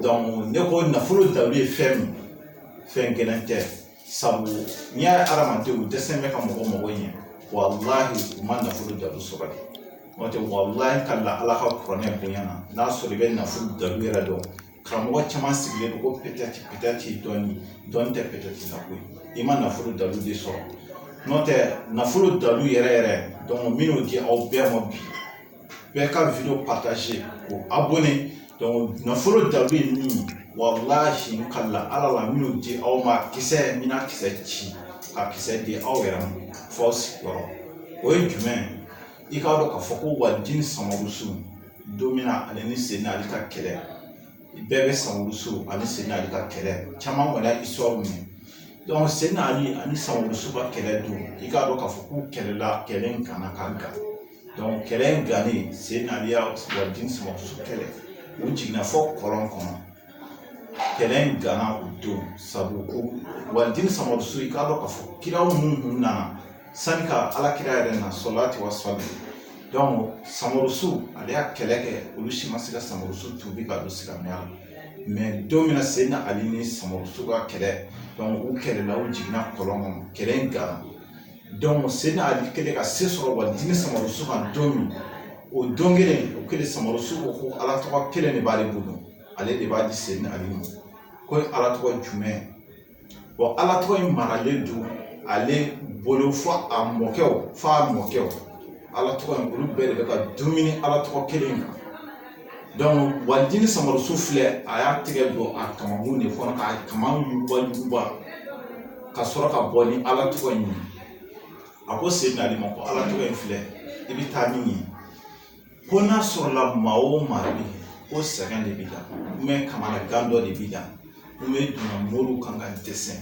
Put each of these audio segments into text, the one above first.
ne ko nafolo dalu ye fɛn min fɛn gɛlɛman tɛ sabu n'i y'a ye adamadenw dɛsɛlen bɛ ka mɔgɔ mago ɲɛ walahi u ma nafolo dalu sɔrɔ de n'o tɛ walahi ka la ala ka kuranɛ bonya na n'a sɔrɔ i bɛ nafolo dalu yɛrɛ dɔn karamɔgɔ caman sigilen don ko pɛtɛti pɛtɛti dɔɔni dɔɔni tɛ pɛtɛti la koyi i ma nafolo dalu de sɔrɔ n'o tɛ nafolo dalu yɛrɛ yɛrɛ n bɛn'o di aw bɛɛ ma bi bɛɛ ka video partager ko abonné donc nafolo da bɛ yen min walahi ka la ala la n bɛn'o di aw ma kisɛ min na kisɛ ci ka kisɛ di aw yɛrɛ ma force yɔrɔ o ye jumɛn i k'a dɔn k'a fɔ ko waldini samarusu don min na ale ni seyina ali ka kɛlɛ bɛɛ bɛ samarusu ani seyina ali ka kɛlɛ caman kɔni y'a histoire mɛn donc seyina ali ani samarusu ka kɛlɛ don i k'a dɔn k'a fɔ k'u kɛlɛla kɛlɛ in gana ka gan donc kɛlɛ in gannen seyina ali ye waldini samarusu kɛlɛ u jiginna fɔ kɔlɔn kɔnɔ kɛlɛ in gana u don sabu ko waldini samarusu i k'a dɔn k'a fɔ kiraw minnu kun nana sani ka ala kira yɛrɛ na salatu wa salamu donc samarusu ale y'a kɛlɛ kɛ olu si ma se ka samarusu tubi ka don silamɛya la mais don min na seyina ali ni samarusu ka kɛlɛ donc u kɛlɛla u jiginna kɔlɔn kɔnɔ kɛlɛ in gana seyina ali kɛlen ka se sɔrɔ waldini samarusu kan don min o don kelen o kelen samarusu ko ko ala tɔgɔ kelen de b'ale bolo ale de b'a di seyina ali ma k'o ye ala tɔgɔ jumɛn wa ala tɔgɔ in maralen don ale bolo fo a mɔkɛw fo a mɔkɛw ala tɔgɔ in olu bɛɛ de bɛ ka dumuni ala tɔgɔ kelen kan waldini samarusu filɛ a y'a tɛgɛ don a kamankun de kɔnɔ k'a kaman yuguba yuguba ka sɔrɔ ka bɔ ni ala tɔgɔ in ye a ko seyina ali ma ko ala tɔgɔ in filɛ i bɛ taa min ye ko n'a sɔrɔla maa o maa bɛ ko sɛgɛn de b'i la ou bien kamanagan dɔ de b'i la ou bien donna moriw kan ka dɛsɛ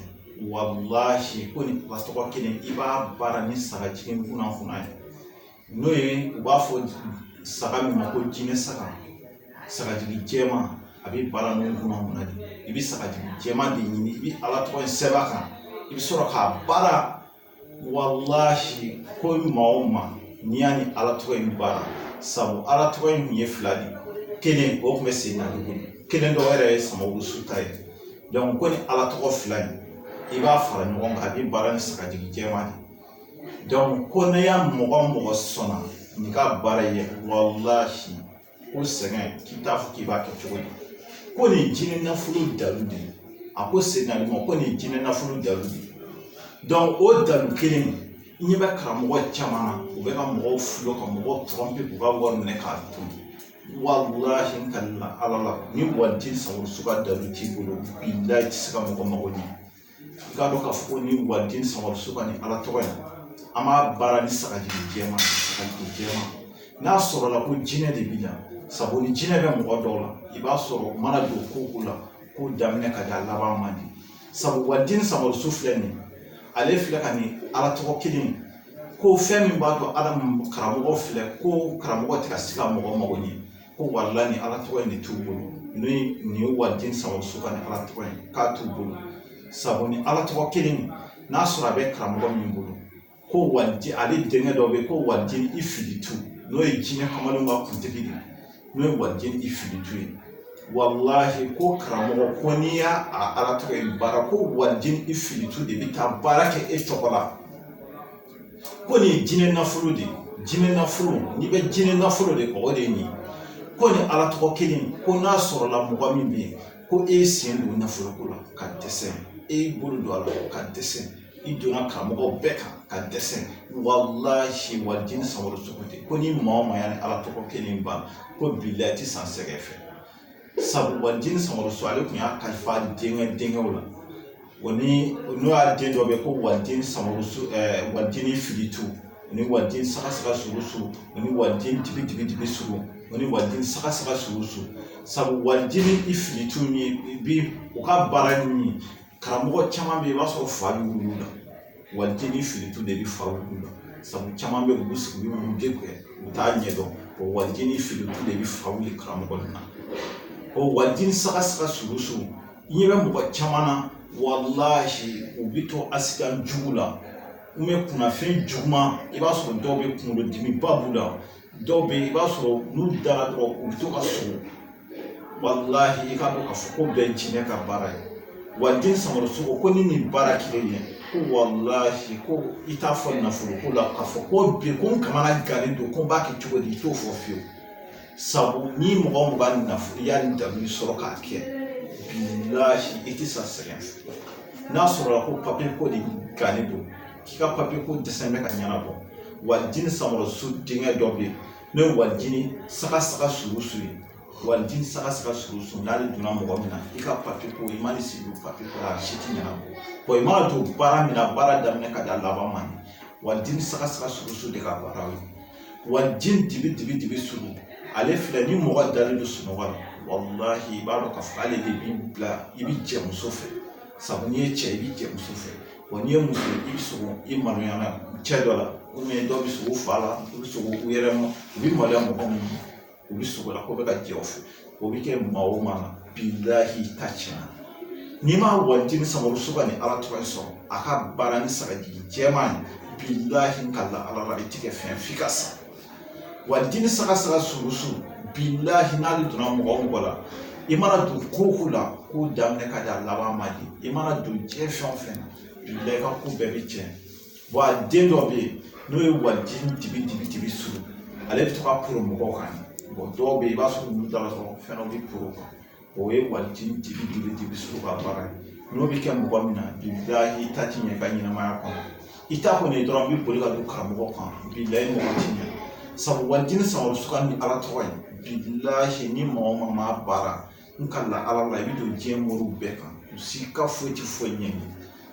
walahi ko nin tɔgɔ kelen i b'a baara ni sagajigi kunna kunna ye n'o ye u b'a fɔ saga min ma ko jinɛ saga sagajigi jɛman a bɛ baara n'o kunna kunna de i bɛ sagajigi jɛman de ɲini i bɛ ala tɔgɔ in sɛbɛn a kan i bɛ sɔrɔ k'a baara walahi ko maa o maa n'i y'a ni ala tɔgɔ in baara sabu ala tɔgɔ in tun ye fila de kelen o tun bɛ seyina ali bolo kelen dɔ yɛrɛ ye samarusu ta ye ko ni ala tɔgɔ fila in i b'a fara ɲɔgɔn kan a bɛ baara ni sagajigi jɛman de ko ne y'a mɔgɔ mɔgɔ sɔnna n'i ka baara ye walahi ko sɛgɛn k'i t'a fɔ k'i b'a kɛ cogo di ko nin jinɛ nafolo dalu de a ko seginna ma ko nin jinɛ nafolo dalu de dɔnki o dalu kelen i ɲɛ bɛ karamɔgɔ caman na u bɛ ka mɔgɔw fulo ka mɔgɔw tɔrɔnpe k'u ka wari minɛ k'a dun walahi n kalila ala la ni walijini samarusu ka dalu t'i bolo bilayi i ti se ka mɔgɔ mago ɲɛ i k'a dɔn k'a fɔ ko ni walijini samarusu ka ni ala tɔgɔ ye an b'a baara ni sagajigi jɛman sagajigi jɛman n'a sɔrɔla ko jinɛ de b'i la sabu ni jinɛ bɛ mɔgɔ dɔw la i b'a sɔrɔ u mana don ko o ko la ko daminɛ ka di a laban man di sabu walijini samarusu filɛ nin ale filɛ ka nin ala tɔgɔ kelen ko fɛn min b'a to ala karamɔgɔ filɛ ko karamɔgɔ tɛ ka se ka mɔgɔ mago ɲɛ ko walahi ni ala tɔgɔ in de t'u bolo ni nin ye walijini samarusu ka ni ala tɔgɔ in k'a t'u bolo sabu ni ala tɔgɔ kelen n'a sɔrɔ a bɛ karamɔgɔ min bolo ko walijini ale denkɛ dɔ bɛ yen ko walijini ifilitu n'o ye jinɛ kamalenw ka kuntigi de ye n'o ye walijini ifilitu ye walahi ko karamɔgɔ ko n'i y'a a ala tɔgɔ in baara ko walijini ifilitu de bɛ taa baara kɛ e tɔgɔ la ko nin ye jinɛ nafolo de ye jinɛ nafolo n'i bɛ jinɛ nafolo de kɔ o de ye nin ye ko nin ala tɔgɔ kelen ko n'a sɔrɔla mɔgɔ min bɛ yen ko e y'i sen don nafolo ko la ka dɛsɛ e y'i bolo don a la ka dɛsɛ i donna karamɔgɔw bɛɛ kan ka dɛsɛ walahi walijini samarusu de ko ni maa o maa y'a ni ala tɔgɔ kelen ban ko bilayi i tɛ sa sɛgɛn fɛ sabu walijini samarusu ale tun y'a kalifa denkɛ denkɛw la wa ni n'o y'a den dɔ bɛ ko walijini samarusu ɛɛ walijini ifilitu ni walijini saga saga surusu ni walijini dibi dibi dibi suru ni walijini saga saga surusu sabu walijini ifilitu min bi o ka baara ye min ye karamɔgɔ caman bɛ yen i b'a sɔrɔ fa bɛ wuli u la walijini ifilitu de bɛ fa wuli u la sabu caman bɛ olu sigi olu b'u degun u t'a ɲɛdɔn o walijini ifilitu de bɛ fa wuli karamɔgɔ de la o walijini saga saga surusu i ɲɛ bɛ mɔgɔ caman na walahi u bɛ to asidan jugu la kunnafɛn juguman i b'a sɔrɔ dɔw bɛ kunkolodimiba b'u la dɔw bɛ yen i b'a sɔrɔ n'u dara dɔrɔn u bɛ to ka sugo walahi i k'a dɔn k'a fɔ k'o bɛɛ jinɛ ka baara ye walijini samarusu ko ni nin baara kelen ye ko walahi ko i t'a fɔ nafolo ko la k'a fɔ ko bi ko n kamana gannen don ko n b'a kɛ cogo di i t'o fɔ fiyewu sabu ni mɔgɔ o mɔgɔ nafolo y'a ni dabali sɔrɔ k'a kɛ bilahi i tɛ sa sɛgɛn fɛ n'a sɔrɔla ko papiye ko de gannen don k'i ka papiye ko dɛsɛ bɛ ka ɲɛnabɔ walijini samɔrɔsu denkɛ dɔ bɛ yen n'o ye walijini saga saga suru su ye walijini saga saga suru su n'ale donna mɔgɔ min na i ka papiye ko i man'i sigi o papiye ko la a si tɛ ɲɛnabɔ i mana don baara min na baara daminɛ ka da laban ma walijini saga saga suru su de ka baara ye walijini dibi dibi dibi suru ale filɛ ni mɔgɔ dalen don sunɔgɔ la walahi i b'a dɔn k'a fɔ k'ale de b'i bila i bɛ jɛ muso fɛ sabu n'i ye cɛ i bɛ jɛ muso fɛ wa n'i ye muso i bɛ sogo i maloya la cɛ dɔ la ubiyɛn dɔw bɛ sogo fa la u bɛ sogo u yɛrɛ ma u bɛ maloya mɔgɔ minnu ma u bɛ sogo la k'o bɛ ka jɛ u fɛ o bɛ kɛ maa o maa na bilahi i ta tiɲɛna n'i ma walijini samɔrɔsu ka nin ala tɔgɔ in sɔrɔ a ka baara ni sagajigi jɛman ye bilahi n kalila ala la i tɛ kɛ fɛn f'i ka sa walijini saga saga suru suru bilahi n'ale donna mɔgɔ o mɔgɔ la i mana don ko o ko la k'o daminɛ ka d'a laban ma de i mana don diɲɛ fɛn o fɛn na bilahi i ka ko bɛɛ bɛ tiɲɛ wa a den dɔ bɛ yen n'o ye walijini dibi dibi dibi suru ale bɛ to ka poro mɔgɔw kan dɔw bɛ yen i b'a sɔrɔ olu dala dɔrɔn fɛn dɔ bɛ poro kan o ye walijini dibi dibi suru ka baara ye n'o bɛ kɛ mɔgɔ min na bilahi i ta ti ɲɛ i ka ɲɛnamaya kɔnɔ i ta kɔni ye dɔrɔn i bɛ boli ka don karamɔgɔ kan bilahi i mago ti ɲɛ sabu walijini samɔrɔsu ka nin ala tɔgɔ in bilahi ni maa o maa m'a baara n kalila ala la i bɛ don diɲɛ moriw bɛɛ kan u si ka foyi ti foyi ɲɛ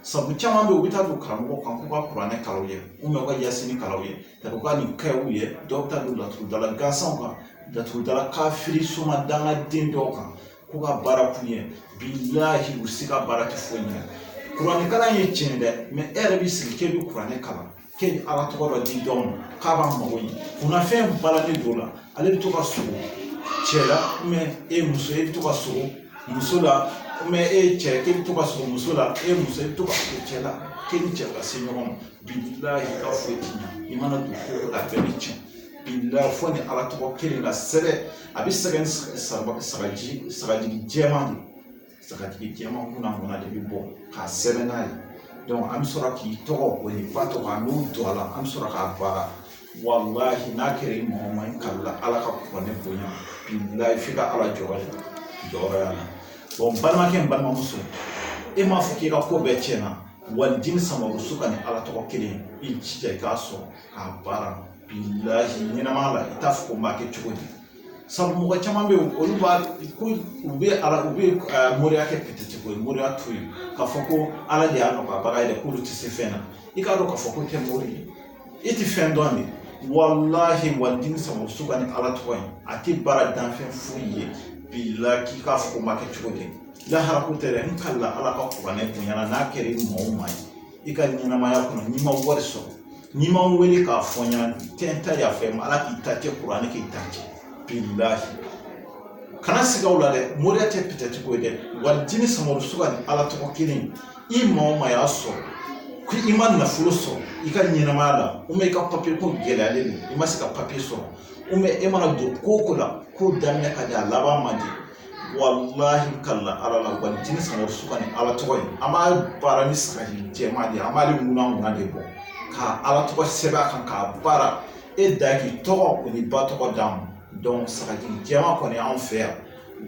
sabu caman bɛ yen u bɛ taa don karamɔgɔ kan k'u ka kuranɛ kalan u ye u ka yasini kalan u ye u ka nin kɛ u ye dɔw bɛ taa don laturudala gansanw kan laturudala kafiri soma dangaden dɔw kan k'u ka baara k'u ye bilahi u si ka baara tɛ foyi ɲɛ kuranɛ kalan ye tiɲɛ dɛ mɛ e yɛrɛ b'i sigi k'e bɛ kuranɛ kalan k'e bɛ ala tɔgɔ dɔ di dɔw ma k'a b'a mago ɲɛ kunnafɛn balalen don o la ale bɛ to ka sogo cɛ la mɛ e muso e bɛ to ka sogo muso la mɛ e cɛ k'e bɛ to ka sogo muso la e muso e bɛ to ka sogo cɛ la k'e ni cɛ ka se ɲɔgɔn ma bilahi i ka foyi ti ɲɛ i mana don ko o ko la a bɛɛ bɛ tiɲɛ bilahi fo nin ala tɔgɔ kelen ka sɛbɛn a bɛ sɛbɛn sagaji sagajigi jɛman de sagajigi jɛman kunankunan de bɛ bɔ k'a sɛbɛn n'a ye dɔnku an bɛ sɔrɔ k'i tɔgɔ o n'i ba tɔgɔ an b'o don a la an bɛ sɔrɔ k'a baara walahi n'a kɛra i mɔgɔ ma n kalila ala ka kuranɛ bonya bilahi f'i ka ala jɔyɔrɔ ye jɔyɔrɔ y'a la bɔn balimakɛ ni balimamuso e m'a fɔ k'i ka ko bɛɛ tiɲɛna walijini samɔrɔsu ka nin ala tɔgɔ kelen i jija i k'a sɔrɔ k'a baara bilahi ɲɛnamaya la i t'a fɔ ko n b'a kɛ cogo di sabu mɔgɔ caman bɛ yen olu b'a ko u bɛ ala u bɛ eh, moriya kɛ pɛtɛti ko ye moriya to yen k'a fɔ ko ala de y'a nɔgɔyabaga ye dɛ k'olu tɛ se fɛn na i k'a dɔn k'a fɔ ko i tɛ mori ye i tɛ fɛn dɔn de walahi walijini samɔrɔsu ka nin ala tɔgɔ in a tɛ baara danfɛn foyi ye bilahi k'i k'a fɔ ko n b'a kɛ cogo di Lahara ko tɛ dɛ, n kalila Ala ka kuranɛ bonya na n'a kɛra i maa o maa ye, i ka ɲɛnamaya kɔnɔ n'i ma wari sɔrɔ, n'i ma n wele k'a fɔ n ɲɛna n tɛ n ta yafa i ma Ala k'i ta cɛn kuranɛ k'i ta cɛn bilahi kana siga o la dɛ moriya tɛ pɛtɛti ko ye dɛ wali jini samadu suga ni Ala tɔgɔ kelen i maa o maa y'a sɔrɔ ko i ma nafolo sɔrɔ i ka ɲɛnamaya la ubiyɛn i ka papiye ko gɛlɛyalen don i ma se ka papiye sɔrɔ ubiyɛn e mana don ko o ko la k'o daminɛ ka di a laban man di walahi kala ala la wali jini samaro suga ni ala tɔgɔ ye an b'a baara ni sagajigi jɛman de ye an b'ale ŋuna ŋuna de bɔ ka ala tɔgɔ sɛbɛn a kan k'a baara e da k'i tɔgɔ o n'i ba tɔgɔ d'a ma dɔnku sagajigi jɛman kɔni anw fɛ yan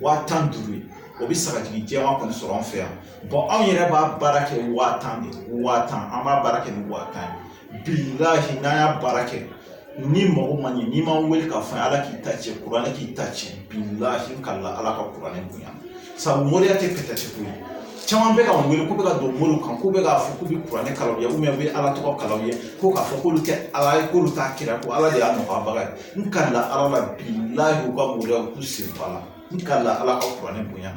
waa tan duuru ye o bɛ sagajigi jɛman kɔni sɔrɔ an fɛ yan bɔn anw yɛrɛ b'a baara kɛ waa tan de waa tan an b'a baara kɛ ni waa tan ye n'an y'a baara kɛ n'i mago ma ɲɛ n'i ma n wele k'a fɔ ala k'i ta cɛn kuranɛ k'i ta cɛn kala ala ka kuranɛ bonya sabu moriya tɛ pɛtɛti ko ye caman bɛ ka wele k'u bɛ ka don moriw kan ko bɛ k'a fɔ k'u bɛ kuranɛ kalan ye u bɛ ala tɔgɔ kalan ye ko k'a fɔ k'olu tɛ ala ye k'olu t'a kira ko ala de y'a nɔgɔyabaga ye n kala ala la u ka moriyaw k'u sen bɔ a la n kala ala ka kuranɛ bonya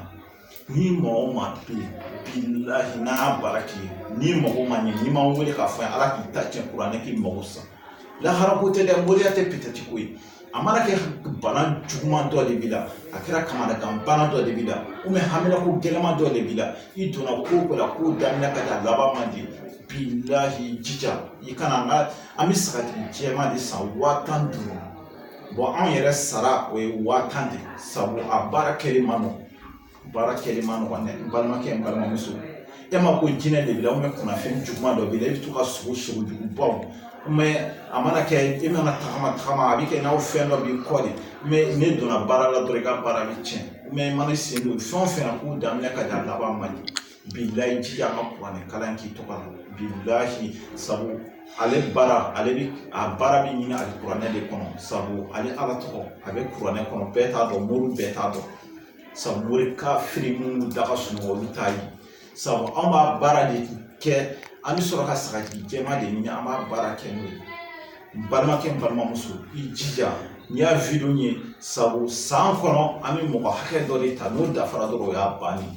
ni maa o maa bɛ yen bilahi n'an y'a baara k'i ye n'i mago ma ɲɛ n'i ma n wele k'a fɔ n ye ala k'i ta tiɲɛ kuranɛ k'i mago sa lahara ko tɛ dɛ moriya tɛ pɛtɛti ko ye a mana kɛ bana juguman dɔ de b'i la a kɛra kamanagan bana dɔ de b'i la ubiyɛn haminako gɛlɛman dɔ de b'i la i donna ko o ko la k'o daminɛ ka di a laban man di bilahi jija i ka na an ka an bɛ sagajigi jɛman de san waa tan ni duuru bɔn anw yɛrɛ sara o ye waa tan de ye sabu a baara kɛli man nɔgɔ baara kɛli man nɔgɔ dɛ n balimakɛ n balimamuso e ma ko jinɛ de b'i la ubiyɛn kunnafɛn juguman dɔ b'i la i bɛ to ka sugo sugo jugubaw mɛ a mana kɛ i mana tagama tagama a bɛ kɛ n'a fɔ fɛn dɔ b'i kɔ de mɛ n'e donna baara la dɔrɔn i ka baara bɛ tiɲɛ mɛ i mana i sen don fɛn o fɛn na k'o daminɛ ka di a laban man di bilahi jija an ka kuranɛ kalan k'i tɔgɔ la bilahi sabu ale baara ale bi a baara bi ɲini ale kuranɛ de kɔnɔ sabu ale ala tɔgɔ a bɛ kuranɛ kɔnɔ bɛɛ t'a dɔn mori bɛɛ t'a dɔn sabu mori kafiri minnu da ka sunɔgɔ olu t'a ye sabu an b'a baara de kɛ an bɛ sɔrɔ ka sagajigi jɛman de ɲini an b'a baara kɛ n'o ye n balimakɛ n balimamuso i jija n'i y'a video ye sabu san kɔnɔ an bɛ mɔgɔ hakɛ dɔ de ta n'o dafara dɔrɔn o y'a bannen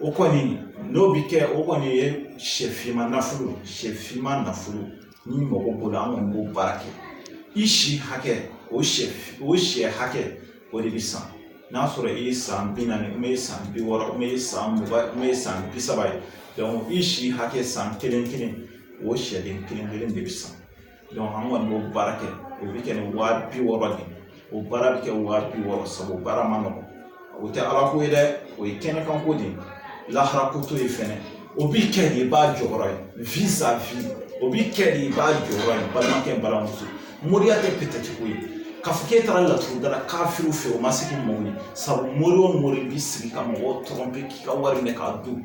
o kɔni n'o bɛ kɛ o kɔni ye sɛ finman nafolo ye sɛ finman nafolo n'i mago b'o la an kɔni b'o baara kɛ i si hakɛ o sɛ o sɛ hakɛ o de bɛ san n'a sɔrɔ i ye san bi naani i ye san bi wɔɔrɔ i ye san mugan i ye san bi saba ye i si hakɛ san kelen kelen o sɛden kelen kelen de bɛ san an kɔni b'o baara kɛ o bɛ kɛ ni wa bi wɔɔrɔ de ye o baara bɛ kɛ wa bi wɔɔrɔ sabu o baara man nɔgɔn o tɛ ala ko ye dɛ o ye kɛnɛkan ko de ye lahara ko t'o ye fɛnɛ o b'i kɛ de i b'a jɔyɔrɔ ye o b'i kɛ de i b'a jɔyɔrɔ ye balimakɛ balimamuso moriya tɛ pɛtɛti ko ye k'a fɔ k'e taara laturudala kafiriw fɛ o ma se k'i mako ɲɛ sabu mori o mori b'i sigi ka mɔgɔw tromper k'i ka wari minɛ k'a dun